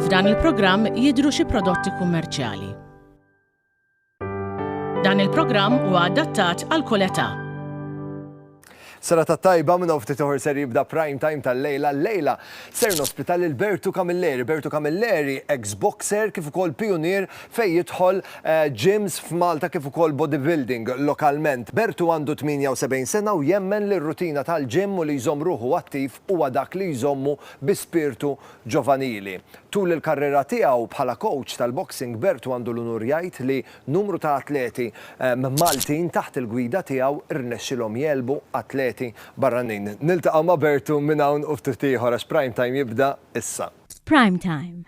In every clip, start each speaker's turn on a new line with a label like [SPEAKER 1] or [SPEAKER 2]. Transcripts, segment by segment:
[SPEAKER 1] F'dan il-programm jidhru xi prodotti kummerċjali. Dan il-programm huwa adattat għal kull età. Sena ta' tajba minn ftit uħor ser jibda prime time tal-lejla. Lejla ser nospita lil Bertu Camilleri. Bertu Camilleri, ex-boxer kif ukoll pionier fejn jidħol gyms f'Malta kif ukoll bodybuilding lokalment. Bertu għandu 78 sena u jemmen li r-rutina tal-gym u li jżomm ruħu attiv huwa dak li jżommu bi spirtu ġovanili. Tul il-karriera tiegħu bħala kowċ tal-boxing Bertu għandu l-unur jgħid li numru ta' atleti Maltin taħt il-gwida tiegħu rnexxilhom jegħlbu atleti barranin. Niltaqgħu ma' Bertu minn hawn u ftit ieħor għax Prime Time jibda issa. F'Prime Time,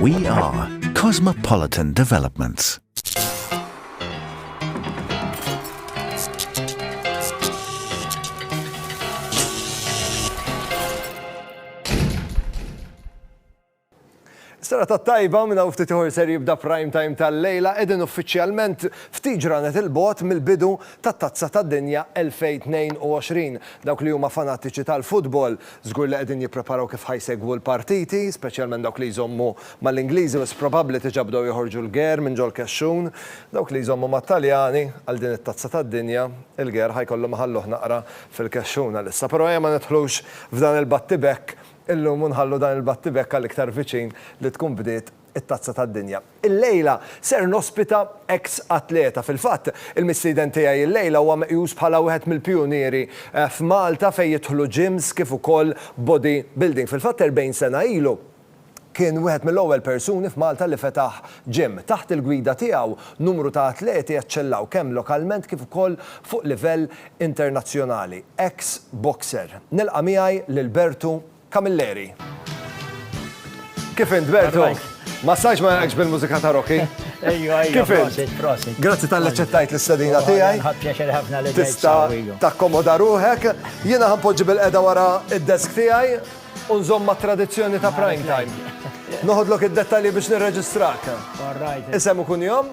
[SPEAKER 1] We are Cosmopolitan Developments. Sara ta' tajba minna u ftit ser jibda prime time tal-lejla edin uffiċjalment ftit ġranet il-bot mill-bidu ta' tazza ta' dinja 2022. Dawk li huma fanatiċi tal-futbol Żgur li qegħdin jippreparaw kif ħa jsegwu l-partiti, speċjalment dawk li jżommu mal-Ingliżi wis probabbli diġà bdew joħorġu l-ger minn ġol-kexxun. Dawk li jżommu mat-Taljani, għal din it-Tazza tad-Dinja, il-ger ħa jkollhom iħalluh naqra fil-kexxun għalissa. Però ejja ma nidħlux f'dan il-battibekk illum u nħallu dan il-battibekk għal iktar viċin li tkun bdiet it-Tazza tad-Dinja. Illejla ser nospita eks atleta. Fil-fatt, il-mistieden tiegħi illejla huwa meqjus bħala wieħed mill-pijunieri f'Malta fejn jidħlu gyms kif ukoll body building. Fil-fatt 40 sena ilu kien wieħed mill-ewwel persuni f'Malta li fetaħ gym. Taħt il-gwida tiegħu, numru ta' atleti eċċellaw kemm lokalment kif ukoll fuq livell internazzjonali. Eks boxer. Nilqa' miegħi lil Bertu Camilleri. Kif int, Bertu? Ma sajx ma jgħakx bil-mużika ta' Rocky? Ejju, ejju, Kif int? prosit, prosit. Grazzi tal ċettajt l-istadina tiegħi. Ħadd pjaċer ħafna li Tista ġejt takkomoda ruħek. Jiena ħanpoġġi bil-qeda wara id-desk tiegħi u nżomm ma' tradizzjoni ta' prime time. Noħodlok id-dettalji biex nirreġistrak. All right. Isem u kunjom?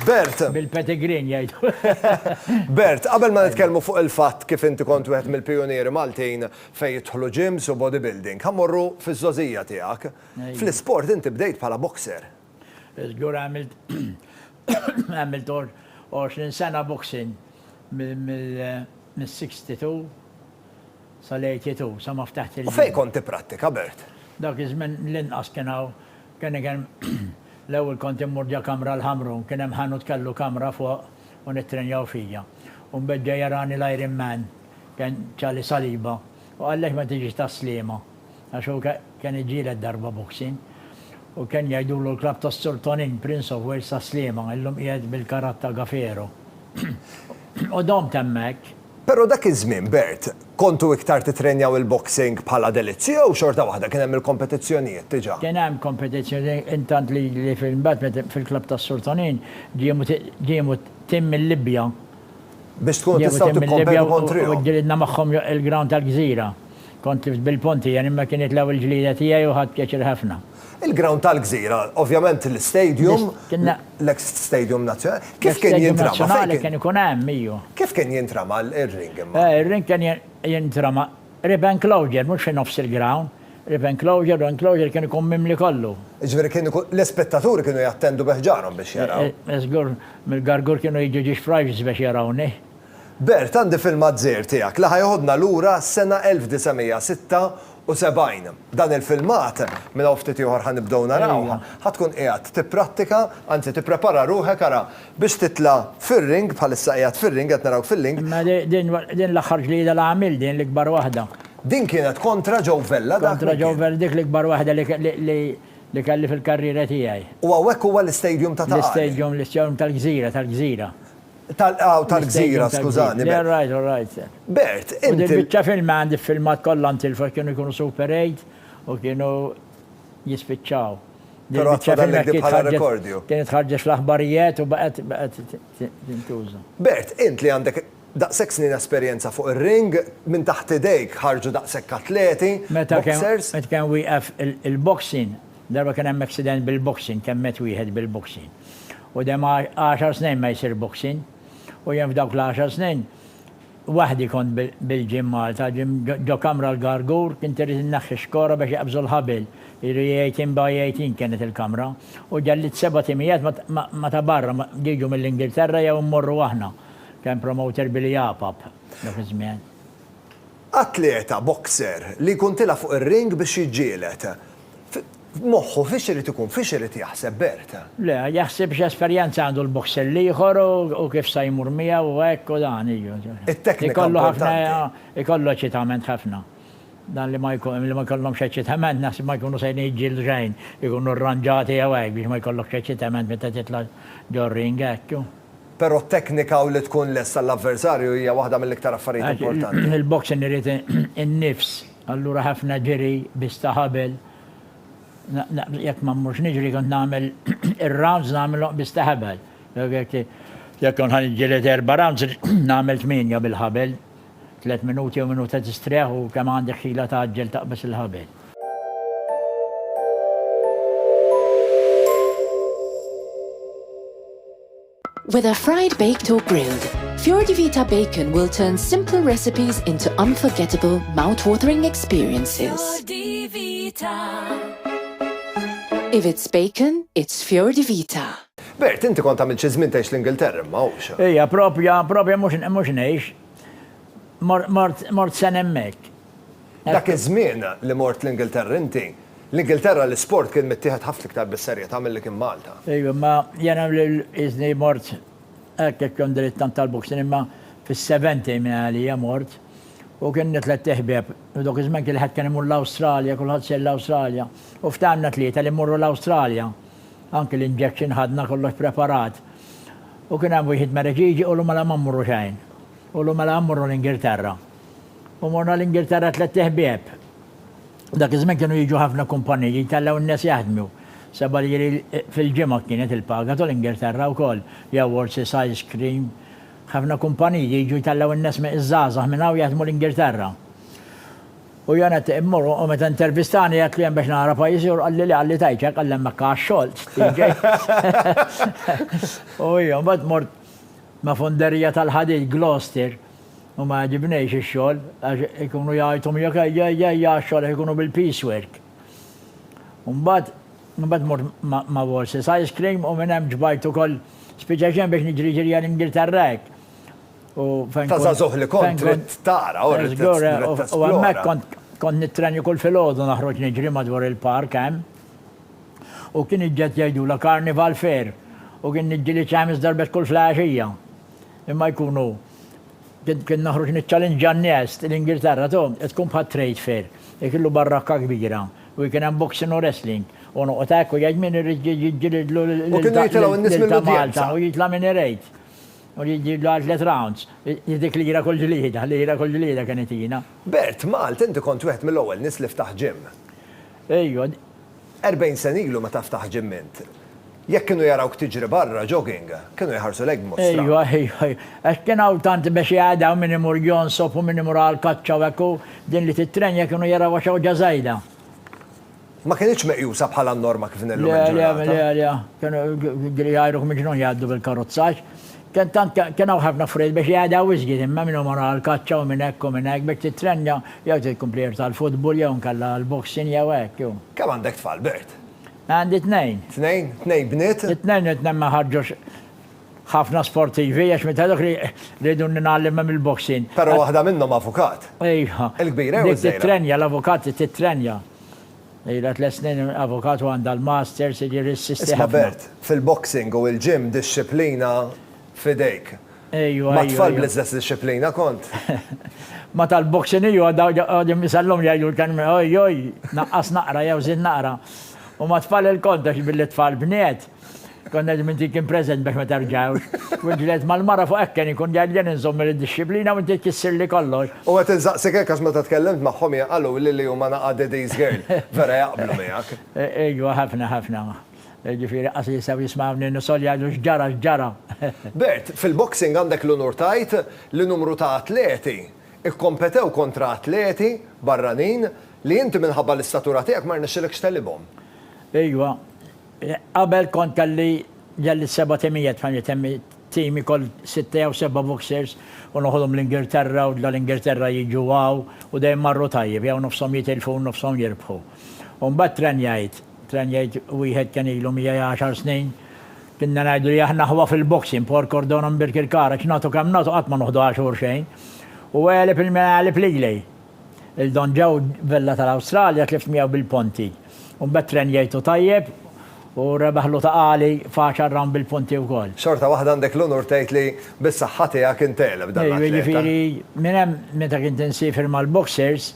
[SPEAKER 1] Bert! Bil-pedigrin jgħidu. Bert, qabel ma nitkellmu fuq il-fatt kif inti kont wieħed mill-pijunieri Maltin fejn jidħlu gyms u bodybuilding, ħa mmorru fiż-żgħożija tiegħek. Fl-isport inti bdejt bħala boxer. Żgur għamilt għamilt 20 sena boxing mill-62 sal-82 sa ma ftaħt il-gym. U fejn kont tipprattika, Bert? Dak iż-żmien l-inqas kien hawn Kien iken L-ewwel kont immur ġa kamra l-Ħamrun, kien hemm ħanut kellu kamra fuq u nittrenjaw fija. U mbagħad ġa jarani l-Iron Man, kien Ċali Saliba, u qal għaliex ma tiġix tas-Sliema, għax hu kien iġġieled darba boxing. U kien jgħidulu l-klabb tas-Sur Tonin, Prince of Wales tas-Sliema, illum qiegħed bil-karat ta' Gafero. U domt hemmhekk. Però dak iż-żmien, Bert, kontu iktar tittrenjaw il-boxing bħala delizzju jew xorta waħda kien hemm il-kompetizzjonijiet diġà? Kien hemm kompetizzjonijiet intant li imbagħad fil-klabb tas-Sur Tonin ġiemu tim mil-Libja. Biex tkunu tistgħu tikkompetu kontrihom. U ġġilidna magħhom il-ground tal-Gżira. Kont tlift bil-punti, jien imma kienet l-ewwel ġlieda tiegħi u ħadt pjaċir ħafna. Il-ground tal-Gżira, ovvjament l-istadium, l-eks stadium nazzjonali, kif kien jintrama? L-istadium nazzjonali kien ikun hemm, iju. Kif kien jintrama l-ring imma? Il-ring kien jintrama rib enclosure, mhux fi nofs il-ground, rib enclosure u enclosure kien ikun mimli kollu. Jiġifieri kien ikun, l-ispettaturi kienu jattendu bi ħġarhom biex jaraw. Żgur, mill-Gargur kienu jiġu ġiex frajġs biex jarawni. Bert, għandi film għadżejr tiegħek li ħa jeħodna lura għas-sena 1976. Dan il-filmat, minn hawn ftit ieħor ħa nibdew narawh, ħa tkun qiegħed tipprattika, anzi tipprepara ruħek, ara, biex titla' fir-ring, bħalissa qiegħed fir-ring, qed narawk fil-ling. Imma din l-aħħar ġlieda li għamilt, din l-ikbar waħda. Din kienet kontra Joe Vella dak li kien. Kontra Joe Vella, dik l-ikbar waħda li kelli fil-karriera tiegħi. U hawnhekk huwa l-istadium ta' Ta' Qali? L-istadium, l-istadium tal-gżira, tal-gżira. Tal-qgħa tal-gżira, skużani. Le, alright, alright. Bert, inti. U dil-biċċa film għandi filmat kollha ntilfa kienu jkunu Super 8 u kienu jispiċċaw. Però għatfa dallek bħala rekordju. Kienet ħarġet fl-aħbarijiet u baqgħet baqgħet tintuża. Bert, int li għandek daqshekk snin esperjenza fuq ir-ring, minn taħt idejk ħarġu daqshekk atleti, boxers. Meta kien wieqef il-boxing, Darba kien hemm accident bil-boxing, temmet wieħed bil-boxing. U dem għaxar snin ma jsir boxing. U jien f'dawk l-għaxar snin waħdi kont bil-gym Malta, gym ġo kamra l-Gargour, kien irid inneħħi xkora biex iqabżu l-ħabil, jiġri eighteen by eighteen kienet il-kamra. U ġellidt seba' timijiet ma ta' barra, jiġu mill-Ingilterra jew immorru aħna. Kien promoter Billy Apap dak iż-żmien. Atleta, boxer, li jkun tilgħa fuq ir-ring biex jiġġieled. F'moħħu fiex irid ikun, fiex irid jaħseb Bert? Le, jaħseb x'esperjenza għandu l-boxer l-ieħor u kif sa jmur miegħu u hekk u dan, iju. It-teknika importanti. Ikollu eċitament ħafna. Dan li ma jkollhomx eċitament naħseb ma jkunu sejrin jiġġieldu xejn, ikunu rranġati jew hekk biex ma jkollokx eċitament meta titla' ġo r-ring hekk. Però t-teknika u li tkun lest għall-avversarju hija waħda mill-iktar affarijiet importanti. Il-boxing irid in-nifs, allura ħafna ġiri biss ta' ħabel. Jekk ma mmurx niġri kont nagħmel ir-rounds nagħmilhom biss ta' ħabel. Jekk kont ħa niġġieled erba' rounds nagħmel tmienja bil-ħabel. Tliet minuti jew minuta tistrieħ u kemm għandek ħila tgħaġġel taqbeż il-ħabel. Whether fried, baked or grilled, Fjordivita bacon will turn simple recipes into unforgettable, mouth-watering experiences. Fjordivita. If it's bacon, it's Fjordivita. Bert, inti kont għamilt xi żmien tgħix l-Ingilterra imma, hux? Ija, proprja, proprja mhux ngħix. Mort, mort sena hemmhekk. Dak iż-żmien li mort l-Ingilterra inti, l-Ingilterra l-isport kien mittieħed ħafna iktar bis-serjetà milli kien Malta. Ija, imma jiena qisni mort hekk jekk kont dritt tant tal-boxing imma fis-seventy minn għalija mort u kien għandi tlett iħbieb u dawk iż-żmien kien ħadd kien imur l-Awstralja, kulħadd sejr l-Awstralja u ftehimna tlieta li mmorru l-Awstralja. Anki l-injection ħadna kollox preparat. U kien hemm wieħid Mereġiġi qulu mela ma mmurru xejn. Qulu mela mmurru l-Ingilterra. U morna l-Ingilterra tlett iħbieb. Dak iż-żmien kienu jiġu ħafna kumpaniji jtellgħu n-nies jaħdmu. Seba' liri fil-ġimgħa kienet il-paga tul Ingilterra wkoll. Jew Wolsey's Ice Cream. Ħafna kumpaniji jiġu jtellgħu n-nies iż-żgħażagħ minn hawn jaħdmu l-Ingilterra. U jiena tieq immur u meta intervistani għedtlu jien biex nara pajjiżi u qalli le Għalli tgħidx hekk għalli hemmhekk haha x-xogħol u hija mbagħad mort ma' fonderija tal-ħadid Gloucester u ma jgħġibnejx ix-xogħol għax ikunu jgħajtu miegħek ejja ejja ejja għax-xogħol għax ikunu bil-piece work. U mbagħad mbagħad mort ma' Wals's Ice Cream u minn hemm ġbajt ukoll spiċċajt xejn biex niġri ġirja l-Ingilterra hekk. Ta' zazuħ li kont trid tara u rrid U hemmhekk kont kont nittrenju kull filgħodu naħroġ niġri madwar il-park hemm. U kien iġġed jgħidula Carnival Fair u kien niġġili ċamis darbet kull flaxija. Imma jkunu kien naħroġ niċċalinġa n-nies l-Ingilterra tu tkun bħal trade fair. Ikellu barrakka kbira u kien hemm boxing u wrestling. U noqgħod hekk u jgħid min irid jiġġilidlu lil Malta u jitla' min irid. U li jġib l-art tliet rounds. Hi dik lira kull ġlieda, lira kull ġlieda kien itina. Bert, Malt, inti kont wieħed mill-ewwel nies li ftaħt gym. Ejju. Erbgħin sena ilu meta ftaħt gym int, jekk kienu jarawk tiġri barra, jogging, kienu jħarsulek b'mod strann. Ejju, ejju, ejju. Għax kien hawn tant mexja għad hawn min imur jonsob u min imur għall-kaċċa u hekk u din li tittrenja kienu jarawha xewġa żajda. Ma kinitx meqjusa bħala n-norma kif din illum il-ġurnata. Le, le, le, kienu jidhri jgħajruk miġnun jgħaddu bil-karozza għax kien tant kien hawn ħafna affarijiet biex jgħadha wisq din imma min hu mor għall-kaċċa u minn hekk u minn hekk biex tittrenja jew trid tkompli għir tal-futbol jew inkella l-boxing jew hekk jew. Kemm għandek tfal, Bert? Għandi tnejn. Tnejn? Tnejn bniet? It-tnejn it-tnejn ma ħarġux ħafna sportivi għax meta dak li rridu ningħallimha mill-boxing. Però waħda minnhom avukat. Ejha. Il-kbira jew iż-żgħira? Dik tittrenja, l-avukati tittrenja. Ilha tliet snin avukat u għandha l-masters, jiġifieri ssisti ħafna. Isma' Bert, fil-boxing u l-gym dixxiplina f'idejk. Ejwa. Ma' tfal bl-istess dixxiplina kont? Ma' tal-boxing ejwa, għadhom isallhom jgħidu l-kelma oj oj, naqqas naqra jew żid naqra. U ma' tfal ilkoll, għax billi t-tfal bniet. Konna qegħdin minn kien preżent biex ma tarġawx. U ġlet mal-mara fuq ekken ikun ġarġen inżomm il-dixxiplina u inti tkissirli kollox. U qed insaqsik hekk għax meta tkellimt magħhom hija qaluli li huma naqa' daddy's girl. Vera jaqblu miegħek. Ejwa ħafna ħafna. Jiġifieri qas li jistgħu jismgħuni nisgħol jgħidu x'ġara x'ġara. Bert, fil-boxing għandek l-unur tgħid li numru ta' atleti kkompetew kontra atleti barranin li inti minħabba l-istatura tiegħek ma rnexxilekx tegħlibhom. Ejwa. Qabel kont kelli ġelli seba' timijiet fejn itemmi tim ikoll sitta jew seba' boxers u noħodhom l-Ingilterra u dal-Ingilterra jiġu hawn u dejjem marru tajjeb jew nofshom jitilfu u nofshom jirbħu. U mbagħad trenjajt, trenjajt wieħed kien ilu miegħi għaxar snin, kinna ngħidu li aħna aħwa fil-boxing, Port Cordon u Mbirkirkara, x'nagħtu kemm nagħtu qatt ma noħduha xhur xejn. U għeleb il-min għeleb lili. Il-Don Joe Vella tal-Awstralja tlift miegħu bil-ponti. U mbagħad Tren jgħidlu tajjeb u rebaħlu ta' għali f'għaxar rawnd bil-punti wkoll. Xorta waħda għandek l-unur tgħid li bis-saħħa tiegħek int tegħleb dan l-atleta. Ejju, jiġifieri minn hemm meta kint insiefer mal-boxers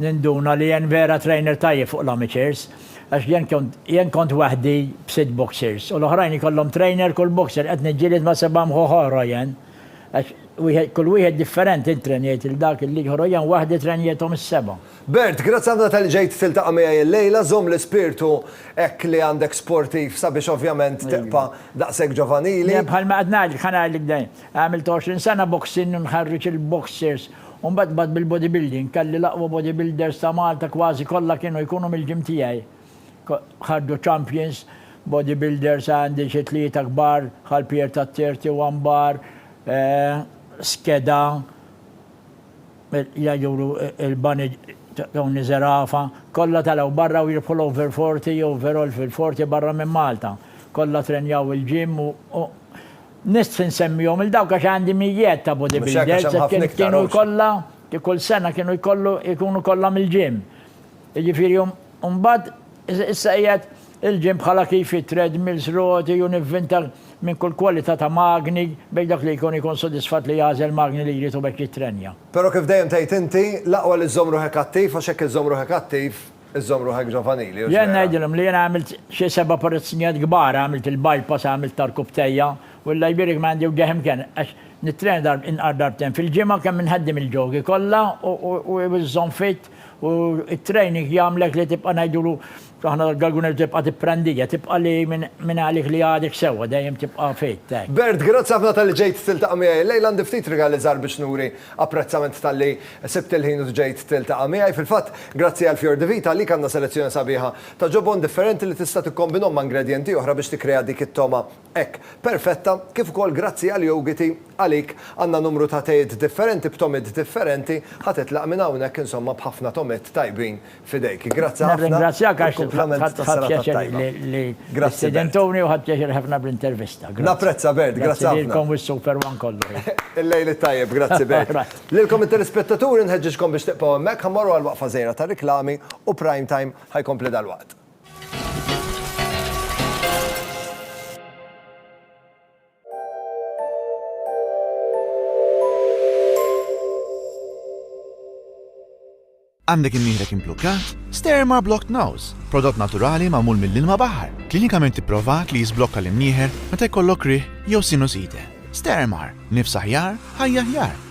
[SPEAKER 1] ninduna li jien vera trainer tajjeb fuq l-amateurs għax jien kont jien kont waħdi b'sitt boxers u l-oħrajn ikollhom trainer kull boxer qed niġġieled ma' seba' mħuħ oħra jien. Għax wieħed, kull wieħed differenti ntrenjajt il dak il liġ ħorojan waħdi trenjethom is seba. Bert, grazzi ħafna talli ġejt tiltaqa miegħi illejla, żomm l-ispirtu hekk li għandek sportiv sabiex ovvjament tibqa daqshekk ġovanili. Le bħalma qed ngħidlek, ħa ngħidlek dejjem, għamilt 20 sena boxing u nħarriġ il-boxers u mbagħad bdgħat bil-bodybuilding, kelli l-aqwa bodybuilders ta' Malta kważi kollha kienu jkunu mill-gym tiegħi. ħarġu champions, bodybuilders għandi xi tlieta kbar bħal Pier ta' 31 Bar, Skeda, li jduru l-bani ta' Tony Zerafa, kollha telgħu barra u jirbħu l-over 40 jew over all fil-40 barra minn Malta. Kollha trenjaw il-gym u nistħi insemmihom 'il dawk għax għandi mijiet ta' bodybuilders kienu jkollha, kull sena kienu jkollu jkunu kollha mill-gym. Jiġifieri mbagħad issa qiegħed il-ġimb bħala kif hi, treadmills, roti u nivvinta minn kull kwalità ta' magni biex dak li jkun ikun sodisfatt li jagħżel magni li jrid u b'hekk jittrenja. Però kif dejjem tgħid inti, l-aqwa li żżomm ruħek attiv għax hekk iżżomm ruħek attiv, iżżomm ruħek ġovanili, hux vera? Jien ngħidilhom li jiena għamilt xi seba' operazzjonijiet kbar, għamilt il-bypass, għamilt tar-rkub tejja u Alla jbierek ma għandi wġigħ imkien għax nittrena inqar darbtejn fil-ġimgħa kemm inħaddem il-ġogi kollha u żżomm fit. U t-training jagħmlek li tibqa' ngħidulu aħna l-Galguners tibqa' tipprandija, tibqa' li minn għalik li għadek sewwa, dejjem tibqa' fit. Bert, grazzi ħafna talli ġejt tiltaqa' miegħi illejla, għandi ftit rigali żgħar biex nuri apprezzament talli sibt il-ħin u ġejt tiltaqa' miegħi. Fil-fatt, grazzi għal Fior di Vita, għalik għandna selezzjoni sabiħa ta' ġobon differenti li tista' tikkombinhom ma' ingredjenti oħra biex tikkrea dik it-togħma Hekk, perfetta, kif ukoll grazzi għal Yogiti, għalik, għandna numru ta' tejiet differenti b'tomit differenti, ħa titlaq minn hawnhekk insomma b'ħafna tomit tajbin f'idejk. Grazzi ħafna. Nirringrazzjak għax ħadt pjaċir li stidentuni u ħadt pjaċir ħafna bl-intervista. Grazzi. Napprezza, Bert. Grazzi ħafna. Grazzi lilkom u s-Super One kollu. Il-lejl it-tajjeb. Grazzi, Bert. Lilkom it-telespettaturi nħeġġiġkom biex tibqgħu hemmhekk, ħa mmorru għal waqfa żgħira tar-riklami u Prime Time ħa jkompli dalwaqt. Għandek imnieħrek implukkat? Sterma Blocked Nose, prodott naturali magħmul mill-ilma baħar, klinikament ipprovat li jisblokka l-imnieħer meta jkollok rih jew sinusite. Stermar, nifs aħjar, ħajja aħjar.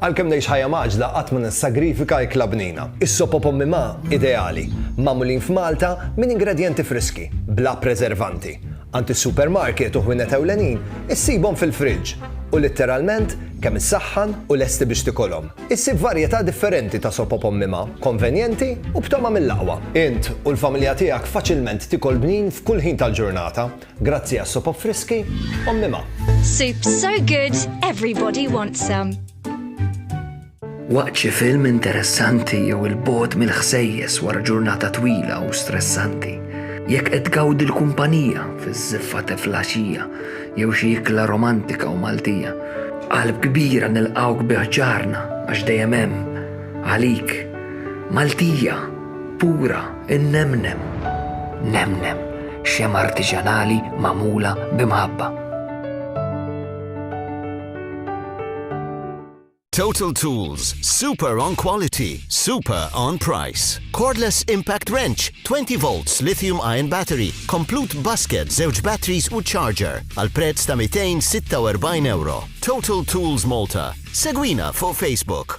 [SPEAKER 1] Għalkemm ngħix ħajja mgħaġġla qatt ma nissagrifika ikla bnina. Is-sop o pommi ma' ideali, magħmulin f'Malta minn ingredjenti friski, bla preservanti. Għand is-supermarket u ħwienet ewlenin issibhom fil-friġġ u litteralment kemm issaħħan u lesti biex tikolhom. Issib varjetà differenti ta' sop o pommi ma', konvenjenti u b'togħma mill-aqwa. Int u l-familja tiegħek faċilment tikol bnin f'kull ħin tal-ġurnata. Grazzi għas-sopop friski, Ommi Ma. Soup so good, everybody wants some. Waqt xi film interessanti jew il-bogħod mill-ħsejjes wara ġurnata twila u stressanti, jekk qed tgawdi l-kumpanija fiż-żiffa teflaxija jew xi ikla romantika u Maltija, qalb kbira nilqgħuk bi ħġarna għax dejjem hemm għalik Maltija pura. Innemnem, nemnem, xema artiġanali magħmula b'imħabba. Total Tools, super on quality, super on price. Cordless Impact Wrench, 20 volts lithium ion battery, complete basket, zewġ batteries u charger, għal prezz ta' 246 euro. Total Tools Malta. Segwina fuq Facebook.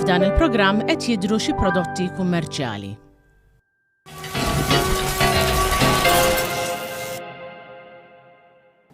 [SPEAKER 1] F'dan il-programm qed jidhru xi prodotti kummerċjali.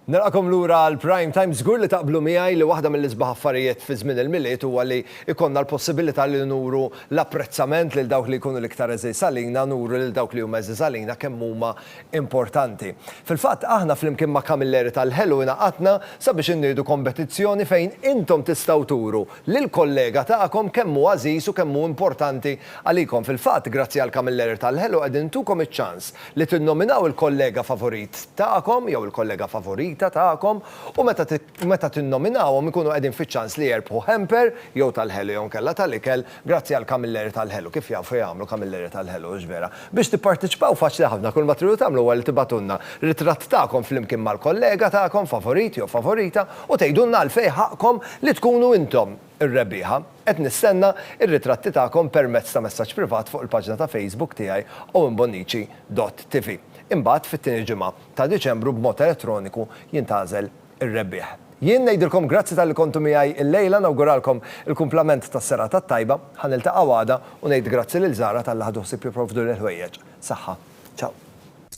[SPEAKER 1] Nilqakom lura għal Prime Time żgur li taqblu miegħi li waħda mill-isbaħ affarijiet fi żmien il-milied huwa li ikonna l-possibilità li nuru l-apprezzament lil dawk li jkunu l-iktar eżiż għalina, nuru lil dawk li huma eżiż għalina kemm huma importanti. Fil-fatt, aħna flimkien ma' Kamilleri tal-Ħelu ingħaqadna sabiex inniedu kombetizzjoni fejn intom tistgħu turu lill-kollega tagħkom kemm hu għażiż u kemm hu importanti għalikom. Fil-fatt, grazzi għall-Kamilleri tal-Ħelu qegħdin intukom iċ-ċans li tinnominaw il-kollega favorit tagħkom jew il-kollega favorita tagħkom u meta u meta tinnominawhom ikunu qegħdin fiċ-ċans li jerbħu hamper jew tal-ħelu jew inkella tal-ikel grazzi għal kamilleri tal-ħelu, kif jafu jagħmlu kamilleri tal-ħelu, hux vera? Biex tipparteċipaw faċli ħafna, kull ma tridu tagħmlu huwa li tibagħtulna ritratt tagħkom flimkien mal-kollega tagħkom favorit jew favorita u tgħidulna għalfejn ħaqqkom li tkunu intom ir-rebbieħa. Qed nistenna r-ritratti tagħkom permezz ta' messaġġ privat fuq il-paġna ta' Facebook tiegħi owenbonnici dot tv. Imbagħad fit-tieni ġimgħa. ta' Diċembru b'mod elettroniku jintgħażel ir-rebbieħ. Jien ngħidilkom grazzi talli kontu miegħi illejla, nawguralkom il-kumplament tas-serata t-tajba, ħa niltaqgħu għada u ngħid grazzi lil Zara talli ħadu ħsieb jipprovduli l-ħwejjeġ. Saħħa. Ciao.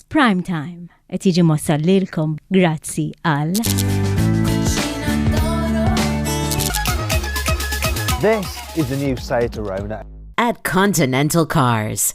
[SPEAKER 1] Prime Time qed jiġi mwassal lilkom grazzi għal. This is the new site around it. At Continental Cars.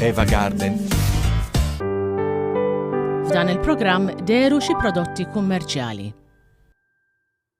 [SPEAKER 1] Eva Garden. F'dan il-programm deru xi prodotti kummerċjali.